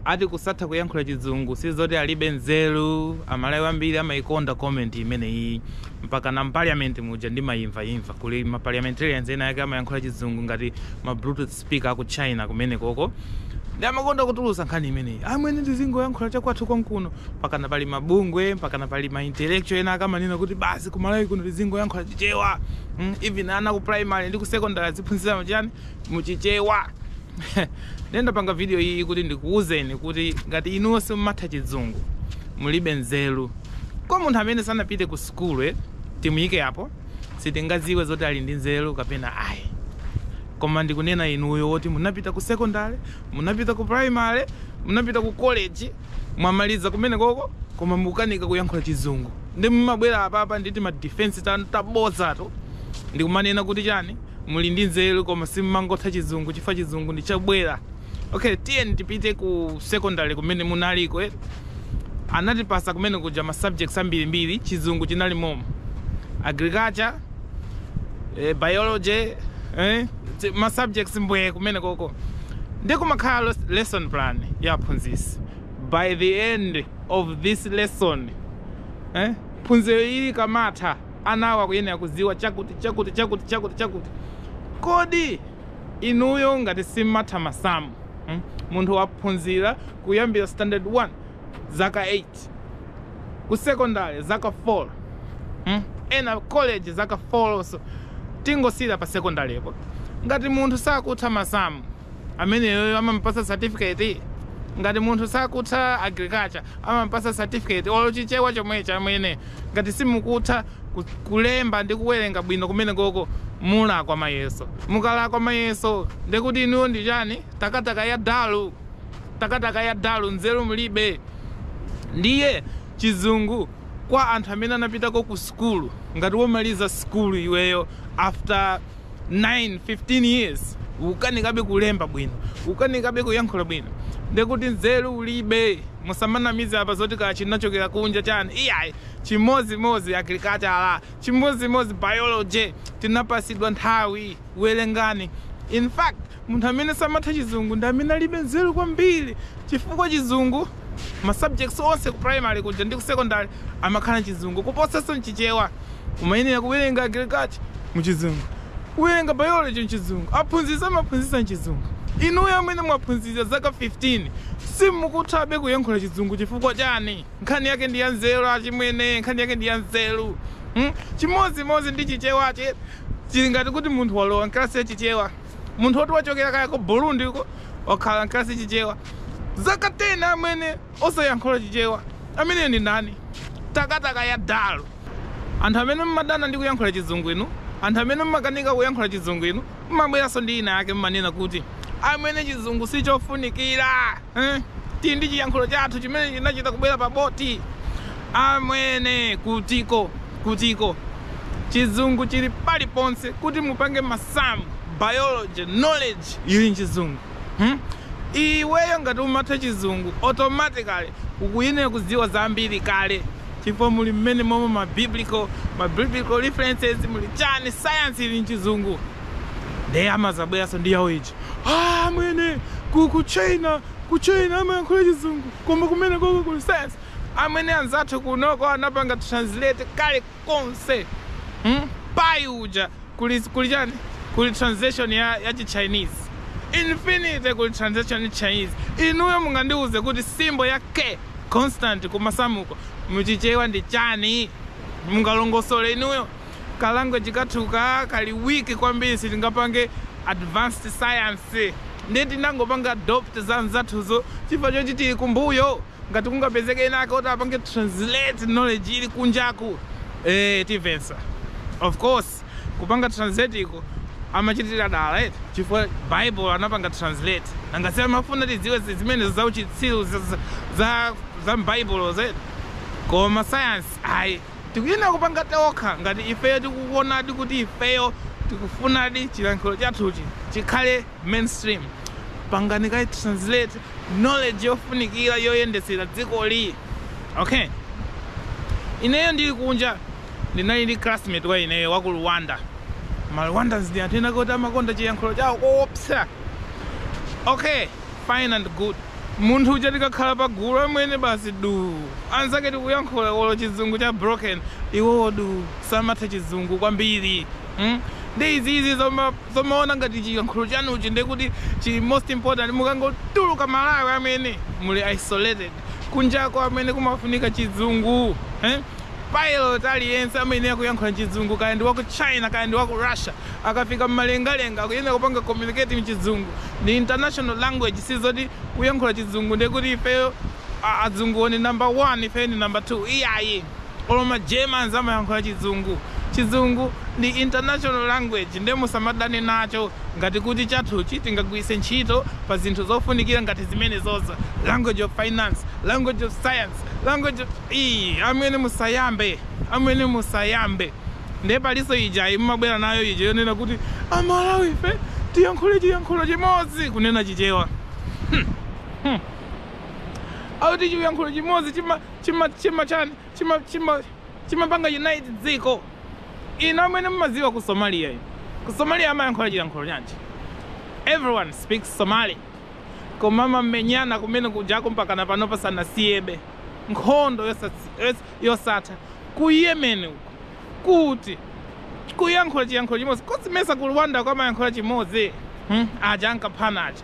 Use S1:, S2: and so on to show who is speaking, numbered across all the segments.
S1: Ati kusatha kuyankhula chizungu sizoti alibe nzeru, amalawi ambiri amaikonda comment imeneyi mpakana mparliament muja ndimaimvaimva kuli ma parliamentarians amene amayankhula chizungu ngati ma bluetooth speaker aku china kumenekoko nde amakonda kutulusa nkhani imeneyi amwene tizingoyankhula chakwathu konkuno mpakana pali mabungwe mpakana pali ma intellectual ena ake amanena kuti basi ku malawi kuno tizingoyankhula chichewa mm, even ana ku primary ndi ku secondary aziphunzira chani muchichewa Ndiye ndapanga video iyiyi kuti ndikuuzeni kuti ngati inuyo simumatha chizungu mulibe nzeru. Kwa munthu amene sanapite ku sukulu eh, timuyike apo sitingadziwe zoti ali ndi nzeru kapena ayi. Koma ndikunena inuyo woti munapita ku secondary, munapita ku primary, munapita ku college, mwamaliza kumenekoko koma mukukanika kuyankhula chizungu. Ndiye mumabwera apapa ndi tima defense tanu tabodzato ndikumanena kuti chani? muli ndi nzeru koma simmangotha chizungu chifukwa chizungu ndi chobwera okay tiyeni tipite ku secondary kumene munaliko eh? anatipasa kumenekuja ma subjects ambirimbiri chizungu chinali momo agriculture eh, biology eh? ti- ma subjects mbwee kumenekoko ndi kumakhala les- lesson plan ya aphunzisi by the end of this lesson eh? phunziroli likamatha Anawo akuyenera kudziwa chakuti, chakuti, chakuti, chakuti, chakuti. Kodi inuyo ngati simmatha masamu, hmm, munthu waphunzira kuyambira standard 1 zaka 8, ku secondary zaka 4, hmm, ena college zaka 4 lonso, tingosiyira pa secondary'po, ngati munthu sakutha masamu, ameneyoyo amamupasa certificate? ngati munthu sakutha agriculture amamupasa certificate olo chichewa chomwechi amwene ngati simukutha kulemba ndi kuwerenga bwino kumenekoko mulakwa mayeso. mukalakwa mayeso ndekuti inuyo ndi chani? takataka ya dalu. takataka ya dalu nzeru mulibe. ndiye chizungu kwa anthu amene anapitako ku sukulu ngati womaliza sukulu iweyo after. 9 15 years ukukanikabe kulemba bwino ukukanikabe kuyankhula bwino ndekuti nzeru ulibe musamanamize apa zoti kaya chinachokera kunja chani iyayi chimodzimodzi agriculture chimodzimodzi biology tinapasidwa nthawi werengani in fact Munthu amene samatha chizungu ndi amene alibe nzeru kwambiri chifukwa chizungu ma subjects onse ku primary kuja ndi ku secondary amakhala chizungu kuposanso mchichewa. Umayenera kuwerenga agriculture mu chizungu. Kuwerenga biology mchizungu. Aphunzitsi amaphunzitsa mchizungu. Inuyo amene mwaphunzira zaka 15 simukuthabe kuyankhula chizungu chifukwa chani? Nkhani yake ndi ya nzeru achimwene, nkhani yake ndi ya nzeru. Hmm? Chimodzimodzi ndi chichewachi chili ngati kuti munthu walowa mkalasi ya chichewa. munthu woti wachokera kaya ku burundi uko wakhala mkalasi chichewa zaka 10 amwene osayankhula chichewa ameneyo ndi ndani takataka ya dalu anthu amene mmadana ndi kuyankhula chizungu inu anthu amene mmakanika kuyankhula chizungu inu mmabweranso ndi ina yake mmanena kuti amwene chizungu sichofunikira Eh, tili ndi chiyankhulo chathu chimene chinachita kubwera paboti amwene kutiko kutiko chizungu chili paliponse kuti mupange masamu biology knowledge ili nchizungu hmm? iweyo ngati umatha chizungu automatically ukuyenera kudziwa zambiri kale chifukwa muli mmene momwe ma biblical ma biblical references muli chani science ili nchizungu ndiye amazabweranso ndi yawo ija Aaa amwene ku ku China ku China samayankhula chizungu koma kumene koko kuli science amwene anzathu kumeneko anapanga translate kale konse hmm? pai uja kuli kuli chani kuli translation ya, ya chi Chinese infinity kuli translation ya Chinese inuyo mungandiuze kuti symbol ya K constant ku masamuko muchichewa ndi chani mungalongosole inuyo ka language kathu ka kali weak kwambiri sitingapange advanced science nde tinangopanga adopt za nzathuzo chifukwa choti tili kumbuyo ngati kungapezeke ena ake oti apange translate knowledge ili kunjaku eh tivensa of course kupanga translate iwo amachitira dala eti chifukwa bible anapanga translate nanga si amafuna tidziwe zi- zimenezo za uchitsiru za, za, za, za mbaibulozi koma science ayi Tikuyenera kupanga tokha ngati ifeyo tikuonadi kuti ifeyo tikufunadi chilankhulo chathuchi chikhale mainstream. Pangani kaye translate knowledge yofunikira yoyendetsera dzikoli. Okay. Ineyo ndili kunja ndinali ndi classmate wa ineyo wa ku Rwanda. Ma Rwandans ndi anthu ena ake oti amakonda chilankhulo chawo koopsa. Okay. fine and good. Munthu uja tikakhala pa gulu amwene basi duu anzake tikuyankhula olo chizungu cha broken iwowo duu samatha chizungu kwambiri mm? nde izizi zoma, zomaona ngati chiyankhulo chanuchi ndekuti chili most important mukangotuluka malawi amwene muli isolated kunjako amwene kumafunika chizungu eh? pilot aliyense amayenera kuyankhula chizungu kaya ndi waku china kaya ndi waku russia Akafika mmalengalenga akuyenera kupanga communicate mchizungu ndi international language sizoti kuyankhula chizungu ndekuti ifeyo azunguwo ndi number 1 ifeyo ndi number 2 iyayi olo ma Germans amayankhula chizungu chizungu ndi international language nde musamadane nacho ngati kuti chathuchi tingagwiritse ntchito pa zinthu zofunikira ngati zimenezo za language of finance language of science language of ii amwene musayambe amwene musayambe Ndiye palinso ijayi mumabwera nayo ija yonena kuti Amalawife tiyankhule chiyankhulo chimodzi kunena Chichewa. Hmm. Hmm. Akuti chiyankhulo chimodzi chima chima chima chani chima chima chimapanga unite dziko. Inu amwene mumadziwa ku Somalia inu. Ku Somalia amayankhula chiyankhulo chanji. Everyone speaks Somali. Koma amamenyana kumene kujako mpakana panopa sanasiyebe nkhondo yosatsi- yos- yosatha ku Yemen uko, kuti, kuyankhula chiyankhulo chimodzi. Kodi simesa ku Rwandako amayankhula chimodzi? Hmm? Aja ankaphana aja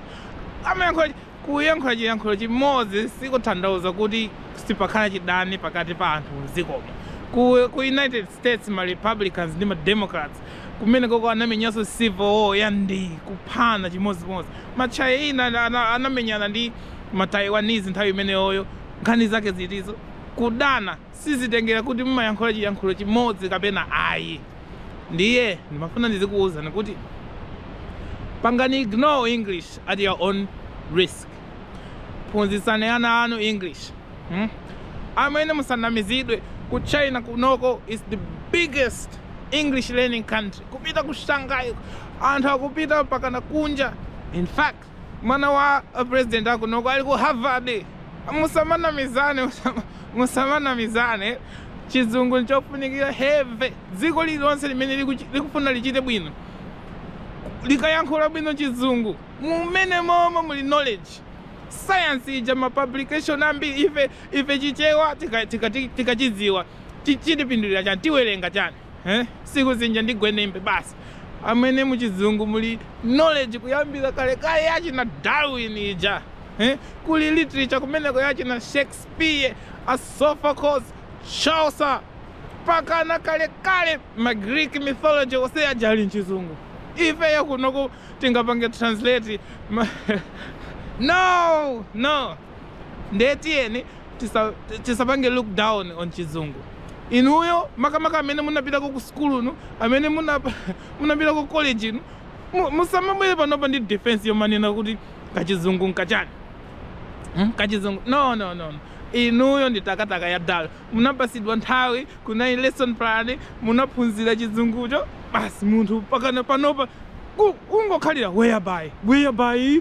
S1: amayankhula chi- kuyankhula chiyankhulo chimodzi sikuthandauza kuti sipakhala chidani pakati pa anthu mdzikomo. Ku, ku United States ma Republicans ndi ma Democrats kumenekoko anamenyanso Civil War ya ndi kuphana chimodzimodzi. Ma China ana- anamenyana ndi ma Taiwanese nthawi imeneyoyo nkhani zake zitizo. Kudana sizitengera kuti mumayankhula chiyankhulo chimodzi kapena ayi. Ndiye ndimafuna ndizikuuzani kuti pangani ignore English at your own risk. Phunzitsani ana anu English. Hmm? Amwene musanamizidwe ku China kunoko is the biggest English learning country. Kupita ku Shanghai anthu akupita mpakana kunja. In fact, mwana wa president akunoko ali ku harvard musamanamizane musamanamizane chizungu nchofunikira heavy dziko lililonse limene liku- likufuna lichite bwino likayankhula bwino chizungu mumenemomo muli knowledge science ija ma publication ambiri ife ife chichewa tikachidziwa tika, tika tichidziwa, chi- chitipindulira chani tiwerenga chani eh? sikusinja ndi gwenembe basi amwene muchizungu muli knowledge kuyambira kalekale yachina darwin ija eh? kuli literature kumeneko yachina shakespeare asophocles chaucer pakana kalekale ma greek mythology onse aja ali mchizungu ifeyo kunoku tingapange translate ma... no no ndiye tiyeni tisa, tisapange look down on chizungu inuyo makamaka amene munapitako ku sukulu inu amene munapitako ku college inu musamabwere panopa ndi defense yomanena kuti kachizungu nkachani hmm? kachizungu no no no inuyo ndi takataka ya dala munapatsidwa nthawi kunali lesson plan munaphunzira chizungucho basi munthu pakana panopa kungokhalira whereby whereby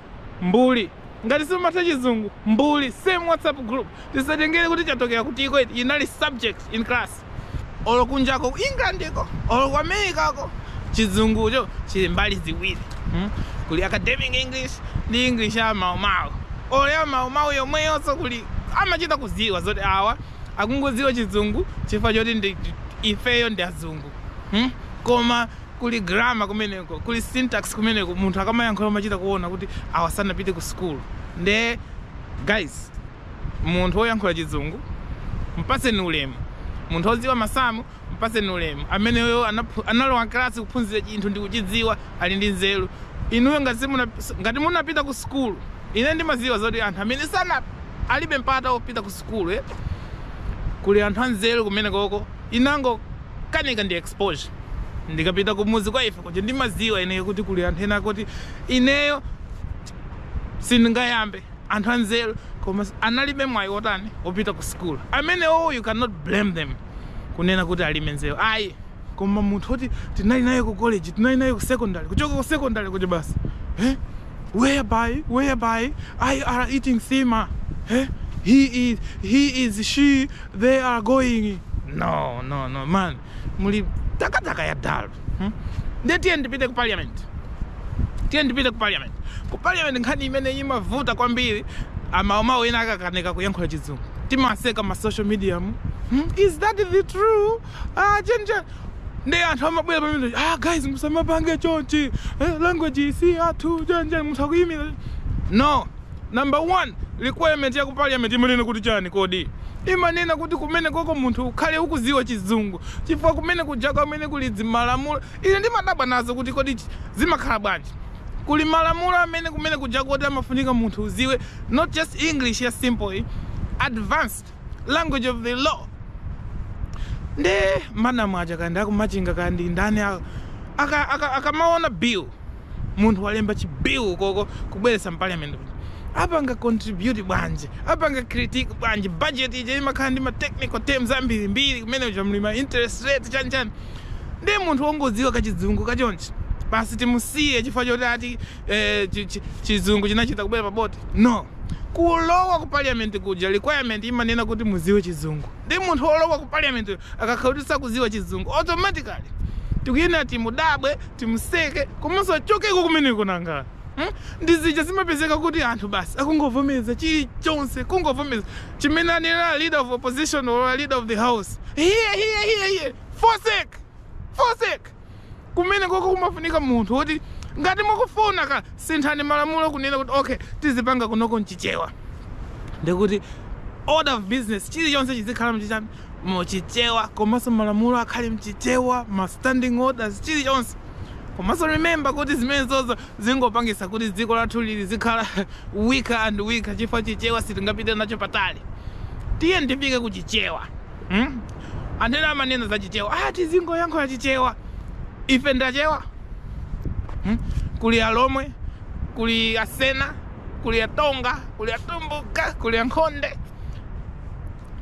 S1: mbuli ngati simumatha chizungu mbuli same whatsapp group tisatengere kuti chatokera kutiko eti inali subject in class olo kunjako ku england ko olo ku america ko chizungucho chili mbali ziwiri hmm? kuli academic english ndi english ya maumawu olo ya maumawu yomweyonso kuli amachita kuziwa zoti awa akungoziwa chizungu chifukwa choti ifeyo ndi azungu hmm? koma Kuli grammar kumeneko, kuli syntax kumeneko, munthu akamayankhula umachita kuona kuti awa sanapite ku school nde guys munthu oyankhula chizungu mpatseni ulemu, munthu odziwa masamu mpatseni ulemu, ameneyo analowa class kuphunzira chinthu ndikuchidziwa ali ndi nzeru, inuyo ngati simuna ngati munapita ku school ine ndimadziwa zoti anthu amene sana alibe mpata opita ku school kuli anthu anzeru kumenekoko. inangokanika ndi exposure ndikapita kumudzi kwa ife kuja ndimadziwa ineyo kuti kuli anthu ena akuti ineyo sindingayambe anthu anzeru koma analibe mwayi wotani wopita ku sukulu amenewo you cannot blame them kunena kuti alibe nzeru ayi koma munthu woti tinali naye ku college tinali naye ku secondary kuchoka ku secondary kuti basi eh? whereby whereby I are eating nsima he he is he is she they are going no no no man muli takataka ya dalu hmm? nde tiye ndipite ku parliament tiye ndipite ku parliament ku parliament nkhani imene imavuta kwambiri amawumawu ena akakanika kuyankhula chizungu timaseka ma social media mu hmm? is that the true ah chani chani nde anthu amabwera pamene ah guys musamapange chonchi eh, language iyi si yathu chani chani munthu akuyimira no number one requirement ya ku parliament imanena kuti chani kodi imanena kuti kumene koko munthu ukhale ukuziwa chizungu chifukwa kumene kuja komwe kuli dzimalamulo ine ndimadabwa nazo kuti kodi chi- zimakhala bwanji kuli malamulo amene kumene kuja koti amafunika munthu uziwe not just english ya simple iyi, advanced language of the law nde madamu aja kaya ndi akumachinga kaya ndi ndani a- aka- aka- akamaona bill munthu walemba chi bill koko kubweretsa mparliament apanga contribute bwanji apanga critique bwanji budget ija imakhala ndi ma technical terms ambirimbiri kumene kuja muli ma interest rate chanchani ndi munthu wongodziwa kachizungu kachonchi basi timusiye chifukwa choti ati eh, chi- chi- chizungu chinachita kubwera pa boti no kulowa ku parliament kuja requirement imanena kuti muziwe chizungu ndi munthu olowa ku parliament uyo akakhala kuti sakuziwa chizungu automatically tikuyenera timudabwe timuseke komanso achokeko kumeneko nanga Hmm? ndi zija zimapezeka kuti anthu basi akungovomereza chilichonse kungovomereza chimene anena leader of opposition or leader of the house hiye hiye hiye hiye fosek fosek kumenekoko kumafunika munthu woti ngati mukufuna kasinthani malamulo kunena kuti okay tizipanga kunoko mchichewa ndikuti order of business chilichonse chizikhala mchichani muchichewa komanso malamulo akhale mchichewa ma standing orders chilichonse komanso remember kuti zimenezozo zingopangisa kuti dziko lathuli zikhala weaker and weaker chifukwa chichewa sitingapite nacho patali tiyeni tifike ku chichewa Hmm? Anthu ena amanena za Chichewa, ah, tizingoyankhula Chichewa. Ife ndachewa. Hmm? Kuli Alomwe, kuli Asena, kuli Atonga, kuli Atumbuka, kuli Ankhonde.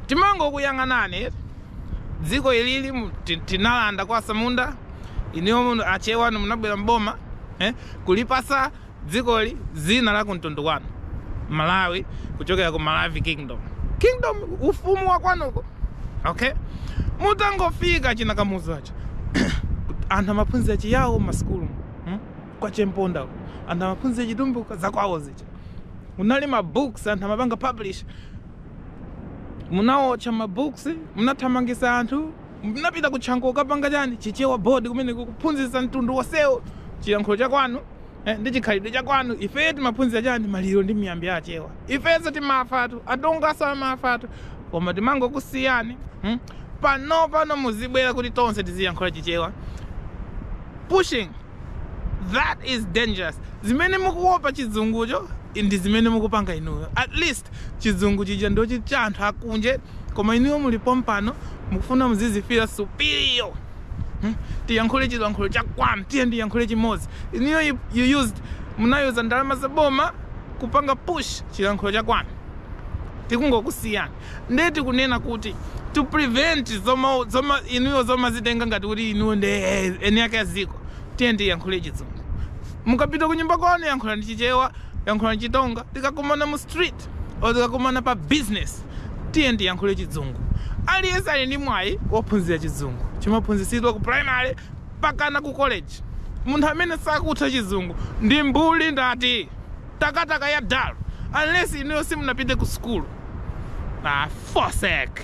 S1: Timangokuyang'anani eti. Dziko ilili mu- ti- tinalanda kwa Asamunda, inuyo Achewa munabwera m'boma, eh? Kulipasa dzikoli dzina la kumtundu kwanu malawi kuchokera ku malavi kingdom kingdom ufumu wa kwanuko okay mutangofika chi Kamuzu aja anthu amaphunzira chiyawo m'masukulu hmm? kwa chemponda uko. anthu amaphunzira chitumbuka zakwawo zija munali ma books anthu amapanga publish munawotcha ma books munathamangisa anthu munapita ku Chanco kukapanga chani chichewa board kumeneko kuphunzisa mtundu wonsewo chiyankhulo chakwanu Eh, ndi chikhalidwe cha kwanu. Ifeyo timaphunzira chani maliro ndi miyambi ya achewa. Ifenso timafatu, atonganso amafatu. Koma timangokusiyani. Hmm? Panopano muzibwera kuti tonse tiziyankhula chichewa. Pushing. That is dangerous. Zimene mukuopa chizungucho ndi zimene mukupanga inuyo. At least chizungu chija ndi chi cha anthu akunje koma inuyo muli pompano mukufuna muzizifila superior. Hmm? Tiyankhule chilankhulo cha kwanu, tiyeni tiyankhule chimodzi. Inuyo you, you used munayuza ndalama za boma kupanga push chilankhulo cha kwanu. Tikungokusiyani. Ndiye tikunena kuti to prevent zoma zoma inuyo zomazitenga ngati kuti inuyo ndi eh, eni ake a dziko. Tiyeni tiyankhule chizungu. Mukapita kunyumba kwanu yankhulani chichewa, yankhulani chitonga. Tikakumana mu street First, or tikakumana pa business tiyeni tiyankhule chidzungu. Aliyense ali ndi mwayi wophunzira chidzungu. Chimaphunzitsidwa ku primary mpakana ku college. Munthu amene sakutha chizungu ndi mbuli ndati katakata ya dull unless inuyo simunapite ku sukulu. Ah, forsake.